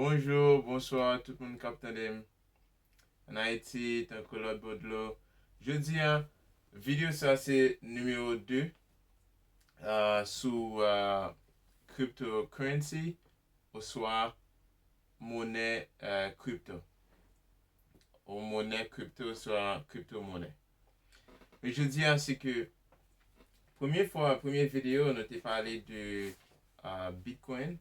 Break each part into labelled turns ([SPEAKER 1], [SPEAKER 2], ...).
[SPEAKER 1] Bonjour, bonsoir tout moun kap tande m an Ayiti tankou lòt bò dlo. Jodi a video sa se numéro 2 sou crypto currency oswa monè crypto ou monè crypto oswa crypto monè. Men jodi a se ke premye fwa premye video nou te pale de bitcoin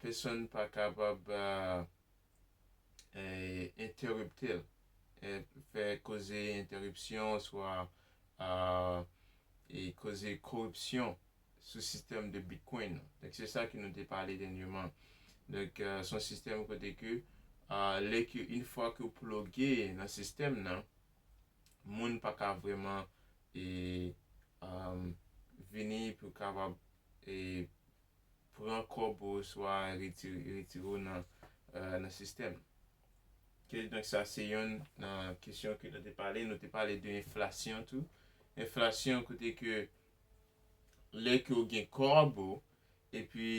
[SPEAKER 1] Pesonn pa kapab entèripte l, fè koze entèripsyon oswa koze koripsyon sou sistèm de Bitcoin nan. Donk se sa ke nou te pale dènyeman. Donk se yon sistèm kote ke lè ke in fwa ke ou ploge nan sistèm nan, moun pa ka vreman vini pou kapab pran kòb ou oswa retire w nan sistèm. Kidonk sa se yonn nan kesyon ke nou te pale. Nou te pale de enflasyon tou. Enflasyon kote ke lè ke ou gen kòb ou epi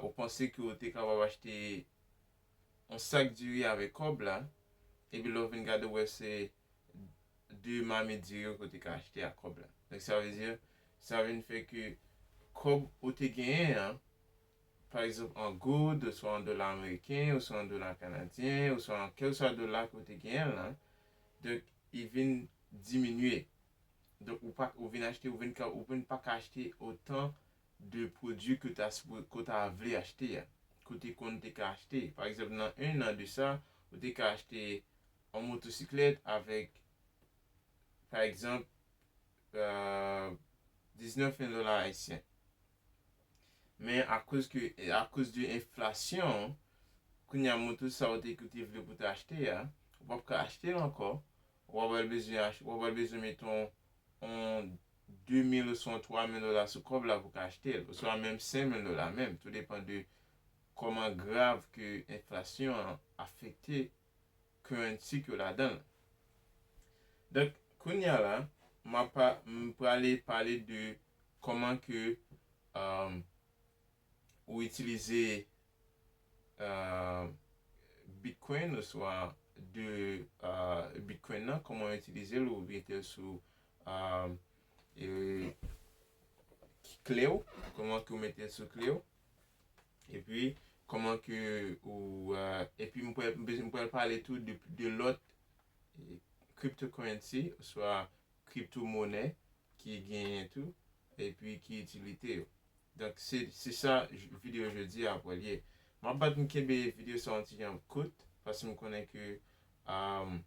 [SPEAKER 1] ou panse ke ou te kapab achte on sak diri avèk kòb la, epi lè w vin gade w wè se 2 mamit diri ke w te ka achte ak kòb la. Donk sa vle di, sa vin fè ke kòb ou te genyen an, pa egzanp an goud, oswa an dola ameriken, oswa an dola kanadyen, oswa an kèlkeswa dola ke w te genyen lan, donk li vin diminye. Donk ou pa, ou vin achte, ou vin ka, ou vin pa ka achte otan de pwodui ke w ta sipoze, ke w ta vle achte a, ke w te konn te ka achte. Pa egzanp nan 1 an de sa, ou te ka achte yon motosiklèt avèk pa egzanp 19 mil dola ayisyen. Men akoz ke, akoz de enflasyon, kounye a moto sa ou te, ke w te vle pou w ta achte a, ou p ap ka achte l ankò, ou ap pral bezwen, ou ap pral bezwen meton on 2 mil oswa on 3 mil dola sou kòb la pou ka achte l, oswa menm 5 mil dola menm, tou depan de kòman grav ke enflasyon an afekte currency ke w ladan l. Donk, kounye a la, m a pa, m prale pale de kòman ke, ou itilize bitcoin oswa de bitcoin nan koman ou itilize l ou metel sou klew koman ke ou metel sou klew epi koman ke ou epi m pral pale tou de lot cryptocurrency oswa crypto money ki genyen tou epi ki itilite yo. Donk se se sa video jodi a pral ye. M ap bat m kenbe video sa yon ti jan kout paske m konnen ke m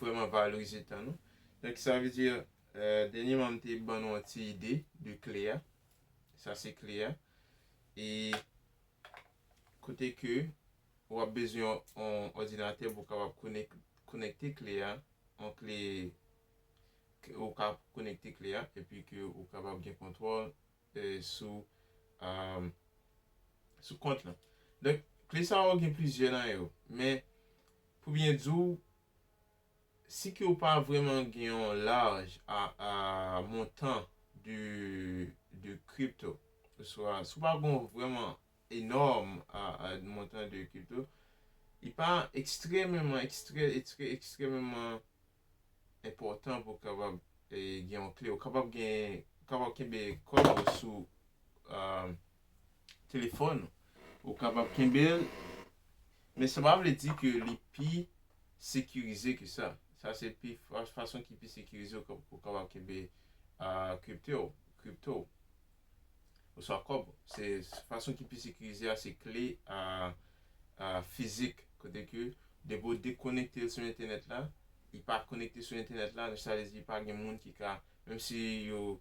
[SPEAKER 1] vrèman valorize tan nou. Donk sa vle di dènyeman m te ban nou yon ti ide de kle a. Sa se kle a. E kote ke w ap bezwen yon òdinatè pou w kapab konekte kle a, yon kle ke ou ka konekte kle a epi ke ou kapab gen kontwòl sou sou kont lan. Donk kle sa yo gen plizyè nan yo men pou byen di w si ke ou pa vreman gen yon laj a a montan de de crypto oswa si w pa gon vreman enòm a a montan de crypto li pa ekstrèmeman ekstrè ekstrè ekstrèmeman enpòtan pou kapab gen yon kle. Ou kapab gen, ou kapab kenbe kòb ou sou telefòn ou. Ou kapab kenbe l, men sa pa vle di ke li pi sekirize ke sa. Sa se pi fason ki pi sekirize ou kapab kenbe kripto, crypto. oswa kòb. Se fason ki pi sekirize a se kle fizik kote ke depi ou dekonekte l sou entènèt la, li pa konekte sou entènèt la, sa vle di pa gen moun ki ka, menm si yo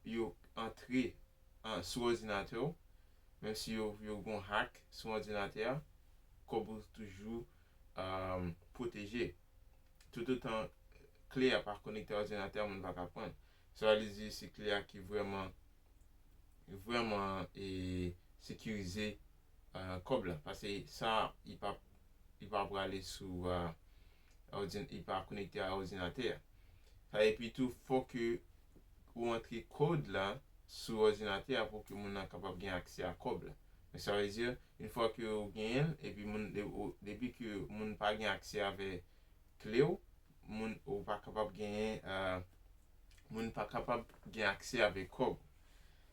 [SPEAKER 1] yo antre sou òdinatè w, menm si yo gen yon hack sou òdinatè a, kòb ou toujou pwoteje. Toutotan kle a pa konekte a òdinatè a moun pa ka pranl. Sa w vle di se kle a ki vrèman vrèman e sekirize kòb la. Pase sa li pa li pa prale sou òdin li pa konekte a òdinatè a. Sa epi tou fòk ke ou antre code la sou òdinatè a pou ke moun nan kapab gen aksè a kòb la. Donc sa vle di une fois ke ou genyenl epi moun depi ke moun pa gen aksè avè kle ou, moun ou pa kapab genyen moun pa kapab gen aksè avè kòb ou.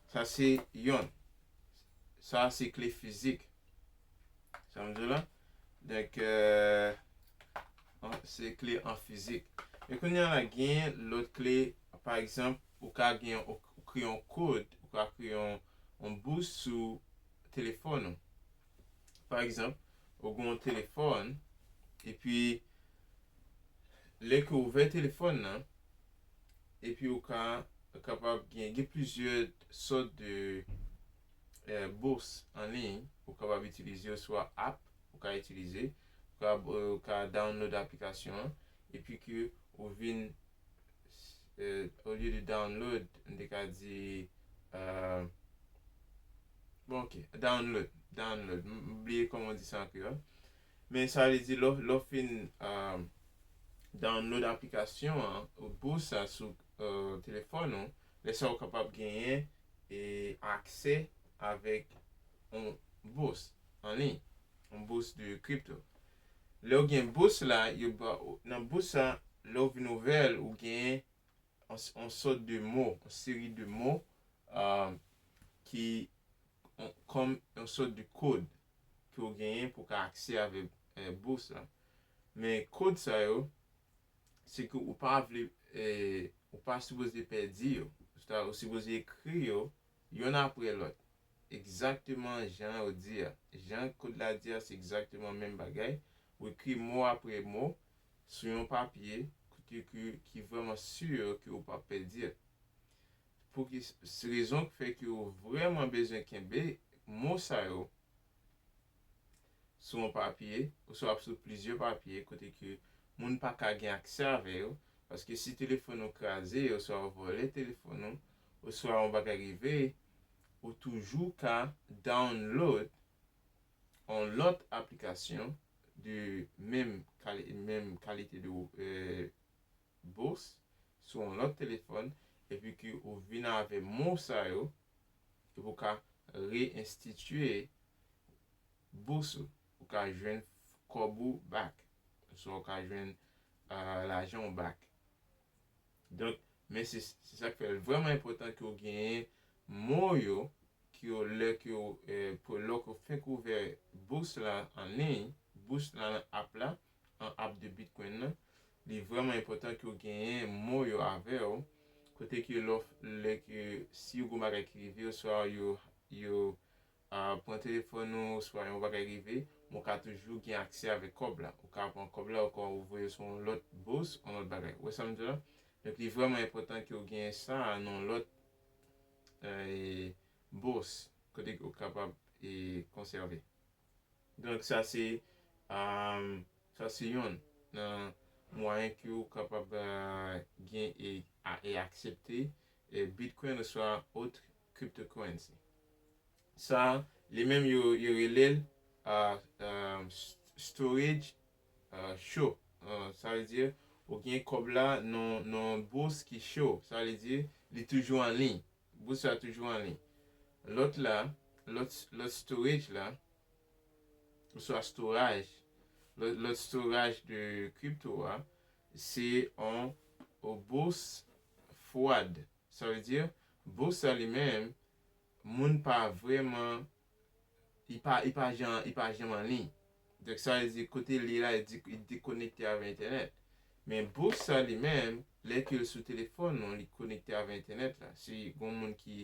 [SPEAKER 1] Sa se yonn. Sa se kle fizik. Sa m di w la? Donk, se kle an fizik. E kounye a la, gen lòt kle, pa egzanp, ou ka gen yon, ou kreye yon kod, ou ka kreye yon bous sou telefòn ou. Pa egzanp, ou gen yon telefòn, epi lè ke ou ouvè telefòn nan, epi ou ka kapab gen, gen plizyè sòt de. bourse an liy ou kapab itilize yo swa app ou ka itilize ou ka ou ka download aplikasyon an epi ke ou vin au lieu de download m te ka di bon ok download download m bliye kòman ou di sa an kreyòl men sa vle di lè w fin download aplikasyon an bourse sa sou telefòn ou lè sa ou kapab genyen aksè avèk yon bous anliy, yon bous de crypto. Lè ou gen bous la, yo ba ou, nan bous sa, lè ou vin ouvè l, ou genyen yon sòt de mo, yon seri de mo ki kòm yon sòt de kod ke ou genyen pou ka aksè avèk bous la. Men kod sa yo. se ke ou pa vle ou pa sipoze pèdi yo. Ou sipoze ekri yo yonn apre lòt. Egzakteman jan yo di a. Jan kod la di a se egzakteman menm bagay. Ou ekri mo apre mo sou yon papye kote ke ki vrèman sur ke ou pap pèdi. Pou ki rezon ki fè ke ou vrèman bezwen kenbe mo sa yo sou yon papye oswa sou plizyè papye kote ke moun pa ka gen aksè avè yo, paske si telefòn ou kraze oswa yo vòlè telefòn ou oswa yon bagay rive, ou toujou ka download yon lòt aplikasyon de menm menm kalite de bourse sou yon lòt telefòn epi ke ou vin avè mo sa yo e pou w ka re-enstitye bous ou. Ou ka jwenn kòb ou back. Oswa ou ka jwenn lajan ou back. Donk, men se sa k fè l vrèman enpòtan ke w genyen mo yo ke w lè ke w, lè w fenk ouvè bous la an liy, bous la nan app la, an app de Bitcoin nan, li vrèman enpòtan ke w genyen mon yo avè w, kote ke lè w, lè ke si yo gen yon bagay ki rive w, swa yo, yo pran telefòn ou, oswa yon bagay rive, men w ka toujou gen aksè avèk kòb la. Ou ka pran kòb la, ou ka ou voye l sou yon lòt bous, yon lòt bagay. Ou wè sa m di w la? Donk li vrèman enpòtan ke w genyen sa a nan yon lòt bous, kote ke ou kapab konsève. Donk sa se sa se yonn nan mwayen ke ou kapab gen e aksepte Bitcoin oswa autre cryptocurrency. Sa li menm yo rele l storage cho. Sa vle di ou gen kòb la nan yon bous ki cho. Sa vle di li toujou an liy. Bous la toujou anliy. Lòt la, lòt, lòt storage la, oswa storaj, lòt, lòt storaj de crypto a, se on bous fwad. Sa vle di, bous la li menm, moun pa vrèman li pa li pa jan li pa janm anliy donk sa vle di kote li la li dekonekte avè entènèt men bous sa li menm lè ke l sou telefòn ou li konekte avè entènèt la si gon moun ki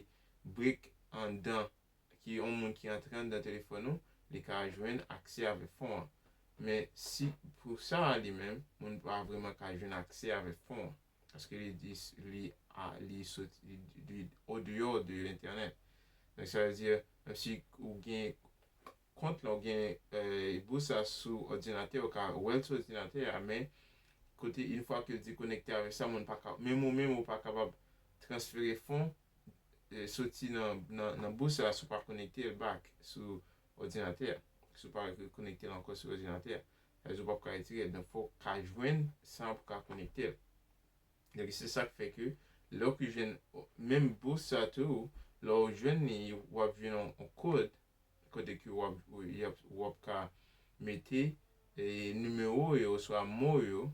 [SPEAKER 1] break anndan ki on moun ki antre anndan telefòn ou li ka jwenn aksè avè fon an men si pou sa li menm moun pa vreman ka jwenn aksè avè fon an. Paske li di li a li soti li di o deyò de entènèt. Donk sa vle di menm si ou gen kont la ou gen e bous sa sou òdinatè ou ka wèl sou òdinatè a men kote in fwa ke di konekte avèk sa moun paka menm ou menm ou pa kapab transfere fon e soti nan nan nan bous sa si ou pa konekte l back sou òdinatè a si ou pa konekte l ankò sou òdinatè a. Rezo pap ka retire donk fok ka jwenn sa pou ka konektel. Donk se sak fè ke lè ou ki jwenn menm bous sa tou lè ou jwenn li wap jwenn yon kod kote ke wap yap wap ka mete e nimewo yo oswa mo yo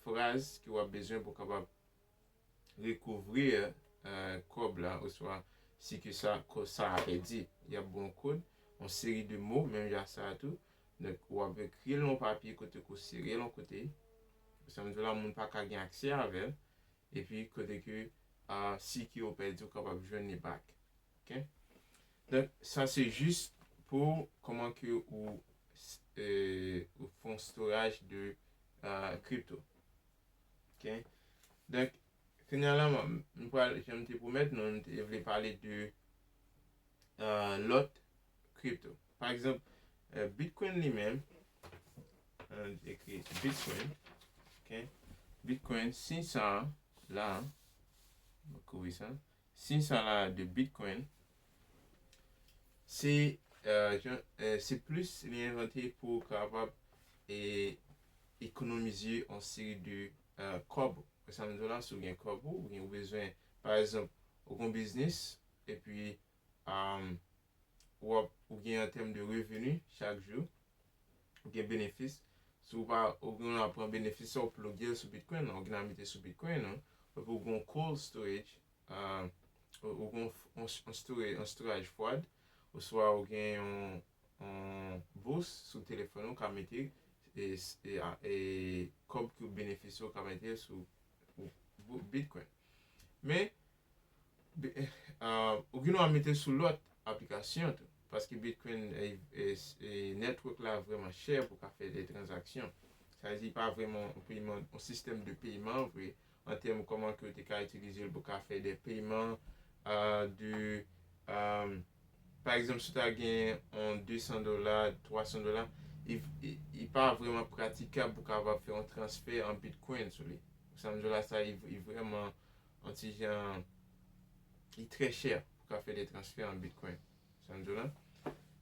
[SPEAKER 1] fraz ke wap bezwen pou kapab recouvrir kòb la oswa si ke sa kò sa a pèdi. Y ap ba w kòd, yon seri de mo menm jan ak sa a tou. Donk, w ap ekri l nan yon papye kote ke w sere l yon kote. Sa m di w la, moun pa ka gen aksè avè l. Epi, kote ke si ke yo pèdi, ou kapab jwenn li back. Ok? Donk, sa se jis pou kòman ke ou fè yon storaj de crypto. Ok donk kounya la map m pral janm te pwomèt nou m te vle pale de lòt crypto pa egzanp bitcoin li menm an ekri bitcoin ok bitcoin si sa la map kouri sa. Siy sa la de Bitcoin se yon se plis li envante pou ou kapab e ekonomize yon seri de kòb. Wè sa m di w la, si w gen kòb ou gen ou bezwen pa egzanp ou gon biznis epi ou ap ou gen an tèm de reveni chak jou. gen benefis si ou pa ou gen nan pran benefis sa ou ploge l sou bitcoin ou gen nan mete sou bitcoin ou epi ou gen yon cold storage ou gen yon storage fwad oswa ou gen yon bous sou telefòn ou ka mete e kòb ki ou benefisye ou ka mete l sou bitcoin men Ou gen dwa mete sou lòt aplikasyon tou. Paske Bitcoin network la vreman chè pou ka fè de transaksyon. Sa vle di li pa vreman yon peyman, yon sistèm de peyman vre. An tèm kòman ke ou te ka itilize l pou ka fè de peyman de pa egzanp si w ta gen yon 200 dola, 300 dola, li pa vreman pratikab pou w kapab fè yon transfè an Bitcoin sou li. Sa m di w la sa li vreman Yon ti jan li trè chè pou ka fè de transfè an bitcoin. Sa m di w la.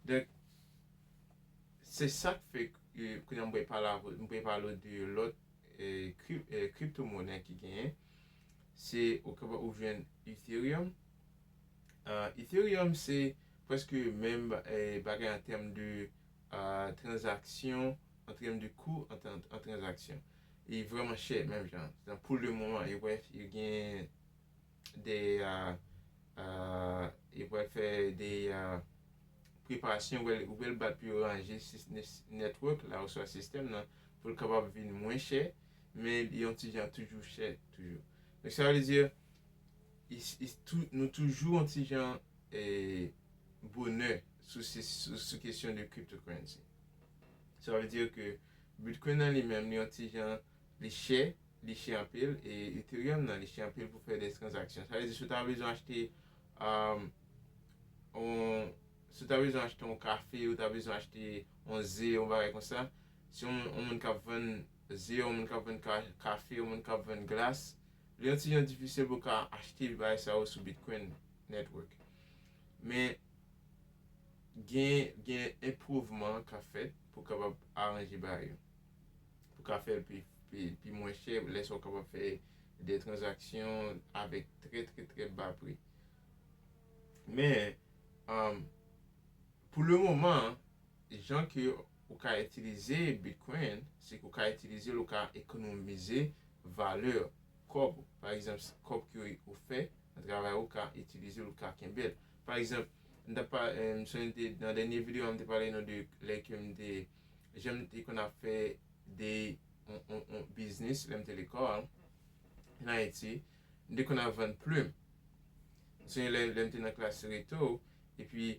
[SPEAKER 1] Donk se sa k fè kounye a m pre pale w de lòt crypto monè ki genyen. Se ou kapab ou jwenn Ethereum. Ethereum se prèske menm bagay an tèm de tranzaksyon, an tèm de kou an tranzaksyon. li vrèman chè menm jan an pou le moman yo pral yo gen de yo pral fè de preparasyon yo pral yo pral bat pou yo ranje network la oswa sistèm nan pou l kapab vin mwen chè men li yon ti jan toujou chè toujou donk sa vle di nou toujou yon ti jan bonè sou kesyon de cryptocurrency sa vle di ke Bitcoin nan li menm li yon ti jan li chè, li chè anpil e Ethereum nan li chè anpil pou fè des transaksyon. Sa vle di si w ta bezwen achte yon, si w ta bezwen achte yon kafe, ou ta bezwen achte yon ze, yon bagay konsa, si yon moun, yon moun kap vann ze, yon moun kap vann kafe, yon moun kap vann glas, li yon ti jan difisil pou w ka achte bagay sa yo sou Bitcoin network. Men gen, gen enpwouvman kap fèt. pou kapab aranje bagay yo. Pou ka fè l pi mwen chè lè sa ou kapab fè de tranzaksyon avèk trè trè trè ba pri. Men, pou le moman, jan ke ou ka itilize Bitcoin, se ke ou ka itilize l, ou ka ekonomize valè kòb ou. Pa egzanp, kòb ke ou fè nan travay ou ka itilize l, ou ka kenbe l. Pa egzanp, m t ap pa, m sonje m te, nan dènye videyo a m te pale nou de lè ke m te, jan m te konn ap fè de yon, yon, yon biznis lè m te lekòl an Ayiti. M te konn ap vann plim. M sonje lè, lè m te nan klas reto, epi,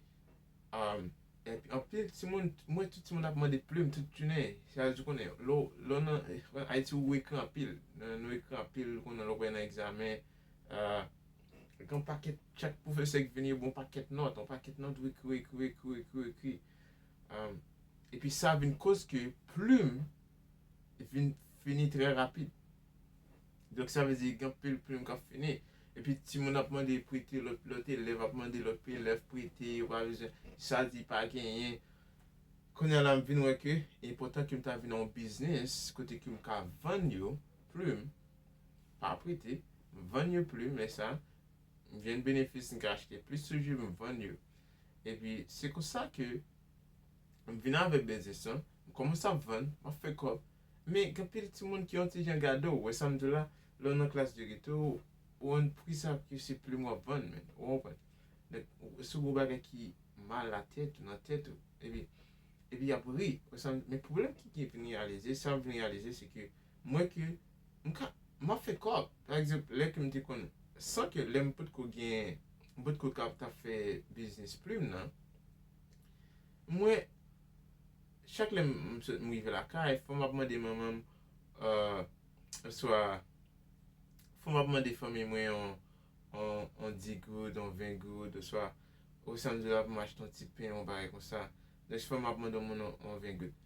[SPEAKER 1] epi anpil timoun, m wè tout timoun ap mande plim tout jounen. Se a di konnen lè w, lè w nan Ayiti ou ekri anpil. Nou ekri anpil konnen lè w pral nan egzamen, Gon pakèt chak pwofesè ki vini yo ba w pakèt nòt, yon pakèt nòt ou ekri, ou ekri, ou ekri, ou ekri, ou ekri. Epi sa vin koz ke plim vin fini trè rapid. Donk sa vle di gen anpil plim k ap fini. Epi timoun ap mande prete, lòt elèv ap mande lòt elèv prete, yo pa bezwen, sa di pa genyen. Kounye a la m vin wè ke enpòtan ke m ta vin nan yon biznis kote ke m ka vann yo plim. pa prete, m vann yo pli men sa, m jwenn benefis m ka achte plis toujou m vann yo. Epi se konsa ke m vin avèk biznis lan, m kòmanse ap vann, m ap fè kòb. Men gen anpil timoun ki yon ti jan gade w, wè sa m di w la, lè w nan klas de geto, ou wonn pri sa ke se plim w ap vann men, ou konprann. Donk se yon gwo bagay ki mal nan tèt ou, nan tèt ou. Epi, epi y ap ri, wè sa m di w. Men pwoblèm ki vin reyalize, sa m vin reyalize se ke Mwen ke m ka, m ap fè kòb. Pa egzanp, lè ke m te konn, san ke lè m potko gen, m potko kab ta fè biznis plim nan, mwen, chak lè m sot, m rive lakay, fò m ap mande manman m, oswa, fò m ap mande fanmi mwen yon, yon, yon di goud, yon ven goud, oswa, ou sa m di w la pou m achte yon ti pen, yon bagay konsa. Donk, fò m ap mande yon moun yon ven goud.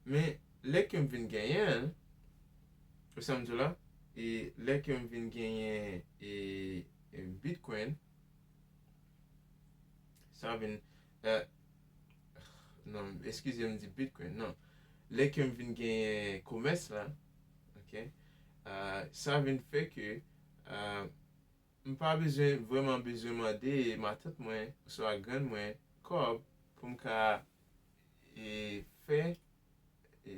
[SPEAKER 1] Men. Lè ke m vin genyen l, ou sa m di w la? E lè ke m vin genyen e Bitcoin, sa vin e, non, eskize m di Bitcoin, non. Lè ke m vin genyen komès la, ok, sa vin fè ke m pa bezwen, vreman bezwen mande matant mwen oswa grann mwen kòb pou m ka e fè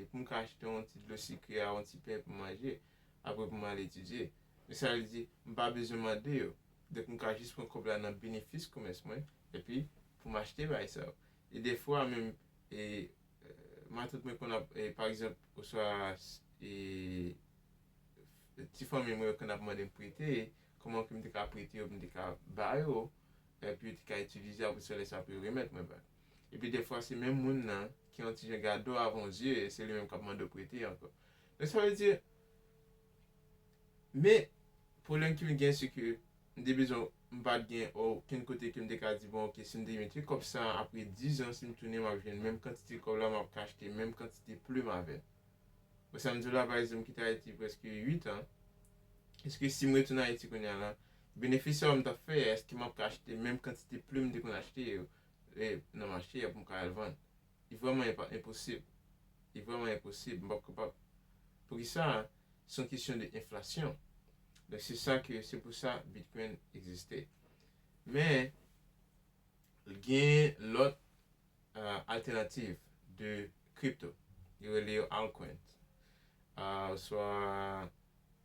[SPEAKER 1] pou m ka achte yon ti dlo sikre ak yon ti pen pou m manje, apre pou m al etidye. Men sa li di, M pa bezwen mande yo. Donk, m ka jis pran kòb la nan benefis komès mwen, epi pou m achte bagay sa yo. E dèfwa menm, matant mwen konn ap, pa egzanp, oswa ti fanmi mwen yo konn ap mande m prete, kòman ke m te ka prete yo, pou m te ka ba yo, epi yo te ka itilize, apre sa, lè sa pou yo remèt mwen bagay. Epi defwa se menm moun nan ki yon ti jan gade w avan w di e se li menm k ap mande w prete ankò. Donk sa vle di, men pwoblèm ke m gen se ke m te bezwen m pa t gen okenn kote ke m te ka di bon ok si m te mete kòb sa a apre dizan si m tounen m ap jwenn menm kantite kòb la m ap ka achte menm kantite plim avè l. Bon sa m di w la pa egzanp m kite Ayiti prèske uit an, èske si m retounen Ayiti kounye a la benefis sa yo m t ap fè a èske m ap ka achte menm kantite plim m te konn achte yo Lè m nan mache a pou m ka al vann. Li vrèman enpa enposib. Li vrèman enposib. M p ap kapab. Poukisa? Se yon kesyon de enflasyon. Donk se sa ke se pou sa Bitcoin egziste. Men, li gen lòt altènativ de crypto. Yo rele yo altcoins. Oswa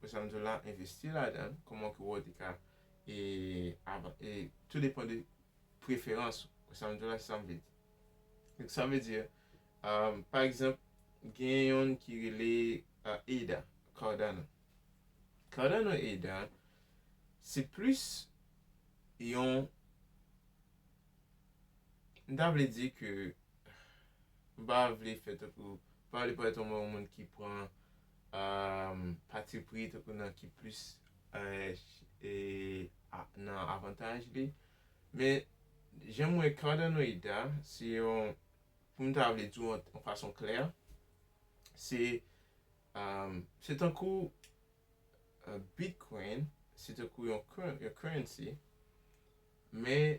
[SPEAKER 1] Wè sa m di w la, envesti ladan l, kòman ke wè w te ka e avan e tou depan de preferans ou. Wè sa m di w la, se sa m vle di. Donk sa vle di, pa egzanp, gen youn ki rele Ada, Cardano. Cardano Ada, se plis yon, m ta vle di ke, m pa vle fè tankou, m pa vle parèt yon moun ki pran Patipri tankou nan ki plis nan avantaj li. Men jan m wè Cardanoid a, se yon, pou m ta vle di w an fason klè, se se tankou Bitcoin, se tankou yon currency, men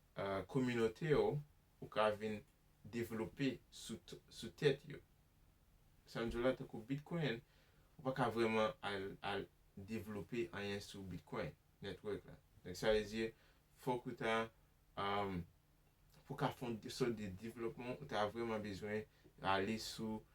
[SPEAKER 1] kominote yo ou ka vin devlope sou tèt yo. Sa m di w la tankou Bitcoin ou pa ka vrèman al devlope anyen sou Bitcoin network la. Donk sa vle di fòk ou ta pou ka fon sòt de devlopman ou ta vrèman bezwen ale sou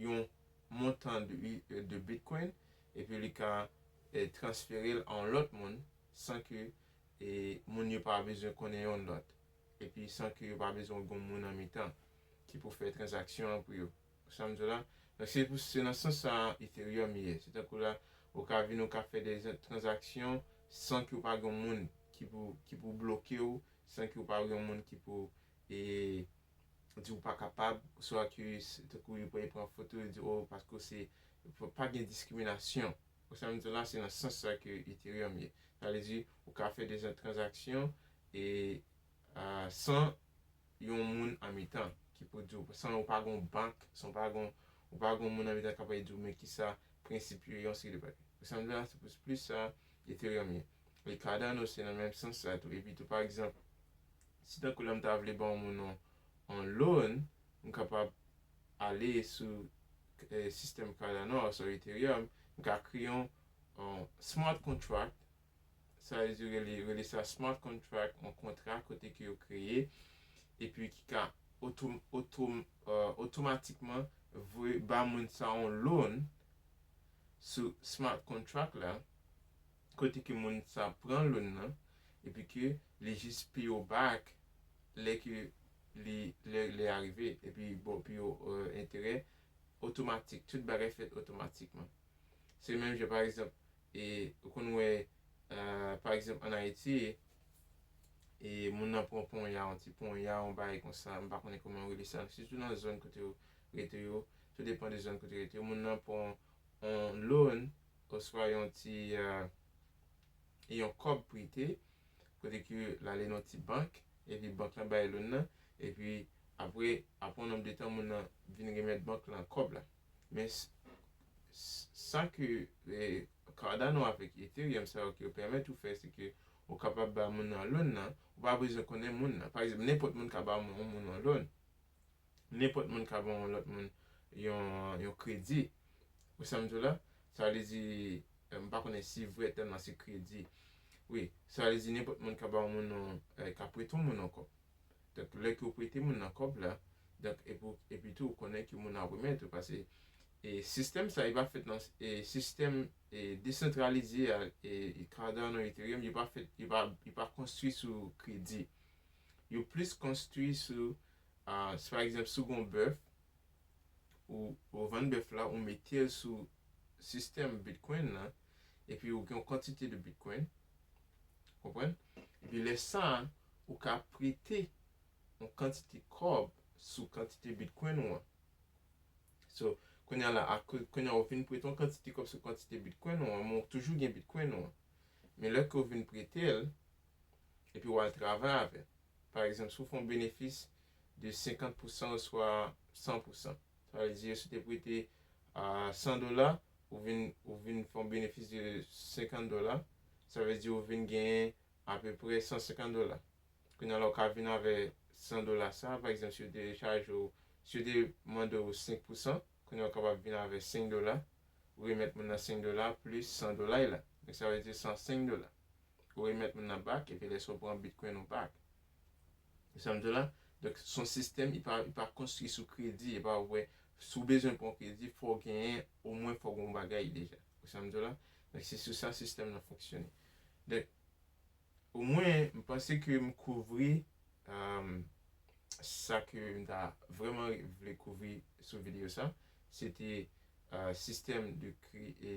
[SPEAKER 1] yon montan de Bitcoin epi li ka transfere l a yon lòt moun san ke moun yo pa bezwen konnen yon lòt epi san ke yo pa bezwen gen yon moun an mitan ki pou fè tranzaksyon an pou yo. Ou sa m di w la? Donk se pou se nan sans sa a Ethereum ye. Se tankou la ou ka vin ou ka fè de tranzaksyon san ke w pa gen yon moun ki pou ki pou bloke w, san ke w pa gen yon moun ki pou di ou pa kapab, ou sou Arcus, tankou yo pran, yo pran foto, yo di oh paske ou se, pa gen diskriminasyon, ou sa m di w la se nan sans sa ke Ethereum ye, sa vle di ou ka fè dejan tranzaksyon e san yon moun an mitan ki pou di w, san ou pa gon bank, san ou pa gon, ou pa gon moun an mitan kap di w men kisa prensip yo ye, yon seri de bagay, ou sa m di w la se plis sa Ethereum ye, e Cardano se nan menm sans sa tou, epi tou pa egzanp. Si tankou la m ta vle ba yon moun yon yon loan, m kapab ale sou sistèm Cardano oswa Ethereum, m ka kreye yon smart contract, sa vle di yo rele sa smart contract, yon kontra kote ke yo kreye epi ki ka otomatikman voye ba moun sa yon loan sou smart contract la. kote ke moun sa pran loun nan epi ke li jis piyo back lè ke li lè lè a rive epi bon piyo enterè otomatik tout bagay fèt otomatikman se menm jan pa egzanp e ou konn wè pa egzanp an ayiti e moun nan pran ponya yon ti ponya yon bagay konsa m pa konnen kòman yo rele sa sitou nan zòn kote yo rete yo tou depan de zòn kote yo rete yo moun nan pran yon loun oswa yon ti yon kòb prete kote ke l ale nan yon ti bank epi bank lan bay loun nan epi apre apre yon nonb de tan moun nan vin remèt bank lan kòb la men sa ke cardano avèk ethereum sa yo ke yo pèmèt ou fè se ke ou kapab ba moun nan loun nan ou pa bezwen konnen moun nan pa ekzanp nenpòt moun ka ba yon moun yon loun nenpòt moun ka ban yon lòt moun yon yon kredi. Ou sam diw la? Sa vle di m pa konnen si vrè tèm lan se kredi. Wi, sa vle di nenpòt moun ka ba yon moun yon ka prete yon moun yon kòb. Donk lè ke w prete moun nan kòb la, donk epi w epi tou ou konnen ke moun nan ap remèt ou pase e sistèm sa li pa fèt nan e sistèm e desantralize a e e Cardano Ethereum yo pa fèt yo pa yo pa konstwi sou kredi. Yo plis konstwi sou Si pa egzanp si w gen yon bèf, ou vann bèf la, ou mete l sou sistèm Bitcoin nan, epi ou gen yon kantite de Bitcoin, ou konprann? Epi lè sa a, ou ka prete yon kantite kòb sou kantite Bitcoin ou an. So, kounye a la, kounye a ou vin prete yon kantite kòb sou kantite Bitcoin ou an, men ou toujou gen Bitcoin ou an. Men lè ke ou vin prete l, epi w al travay avè l, pa egzanp, si w fè yon benefis de 50 pousan oswa 100 pousan, sa vle di yo si w te prete 100 dola, ou vin ou vin fè yon benefis de 50 dola, sa vle di ou vin genyen apeprè 150 dola. Kounye a la ou ka vin avè 100 dola sa, pa egzanp si yo te chaje w, si yo te mande w 5 pousan, kounye a ou kapab vin avè 5 dola, ou remèt moun nan 5 dola plis 100 dola l la, donk sa vle di 105 dola. ou remèt moun nan back epi lè sa ou pran bitcoin ou back ou sam diw la donk son sistèm li pa li pa konstwi sou kredi epa ou wè si ou bezwen pran kredi fòw genyen omwen fòw gen yon bagay deja ou sam diw la donk se sou sa sistèm nan fonksyone donk omwen m panse ke m kouvri sa ke m ta vrèman vle kouvri sou video sa se te sistèm de kre e.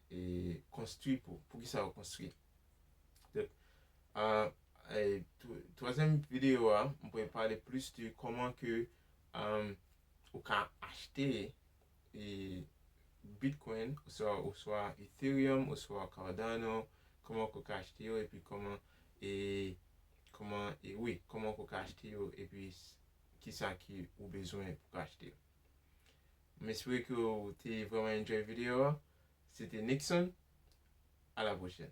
[SPEAKER 1] E konstwi pou, poukisa yo konstwi. Donk, twazyèm videyo a, m pral pale plis de kòman ke ou ka achte Bitcoin oswa Ethereum oswa Cardano, kòman ke ou ka achte yo epi kòman e, kòman e, wi, kòman ke ou ka achte yo epi kisa ke ou bezwen pou ka achte yo. M espere ke ou te vreman enjoy video a. Se te Nickson. A la pwochèn.